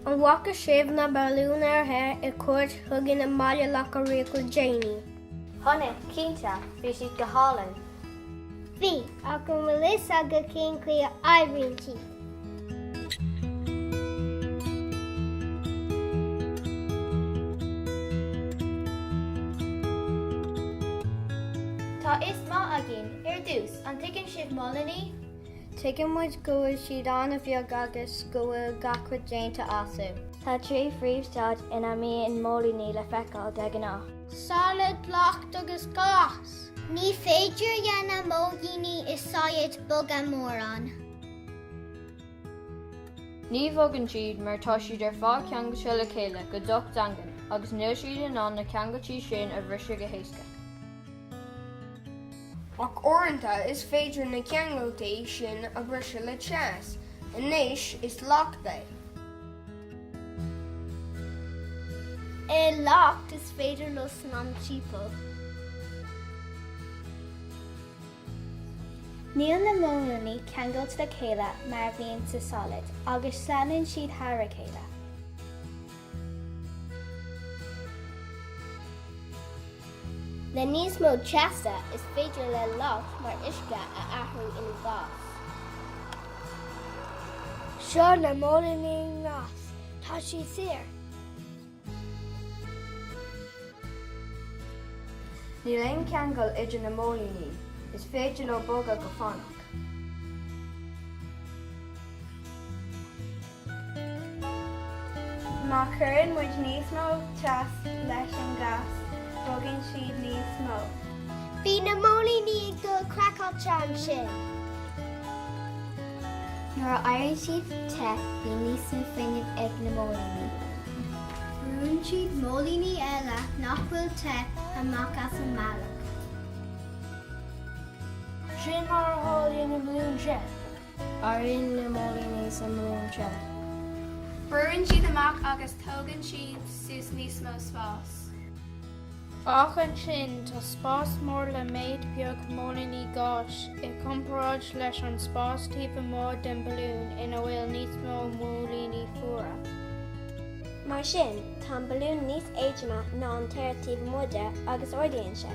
An bhfaca sibh na balúin aeir the ar cuairt chugainn i mBaile Locha Riach le déanaí? Chonaic, cinnte, bhí siad go hálainn. Bhí, ach an bhfuil fhios agat cén chaoi a oibríonn siad? Tá fhios maith againn, ar dtús, an dtuigeann sibh móilíní? Tuigeann muid go bhfuil siad an-bheag agus go bhfuil gach rud déanta astu. Tá trí phríomhstaid ina mbíonn móilíní le feiceáil de ghnáth. Solad, leacht agus gás. Ní féidir leis na móilíní i solad bogadh mórán. Ní bhogann siad mar tá siad ar fad ceangailte le chéile go docht daingean agus níl siad in ann na ceangailtí sin a bhriseadh go héasca. Ach uaireanta is féidir na ceangailtí sin a bhriseadh le teas. Anois is leacht é. I leacht is féidir leo snámh timpeall. Níl na móilíní ceangailte le chéile mar a bhíonn sa solad agus sleamhnaíonn siad thar a chéile. Le níos mó teasa, is féidir le leacht mar uisce a athrú ina ghás. Seo na móilíní i ngás. Tá siad saor. Níl aon cheangal idir na móilíní. Is féidir leo bogadh go fánach. Má chuireann muid níos mó teas leis an gás, bogann siad níos mó. Bhí na móilíní ag dul craiceáilte ansin. Nuair a éiríonn siad te, bíonn níos mó fuinnimh ag na móilíní. Brúnn siad móilíní eile nach bhfuil te amach as an mbealach. Sin mar a tharlaíonn i mbalún te. Éiríonn na móilíní sa mbalún te. Brúnn siad amach agus tógann siad suas níos mó spáis. Ach ansin, tá spás mór le méid beag móilíní gáis i gcomparáid leis an spás taobh amuigh den balún ina bhfuil níos mó móilíní fuara. Mar sin, tá an balún níos éadroime ná an t-aer taobh amuigh de agus ardaíonn sé.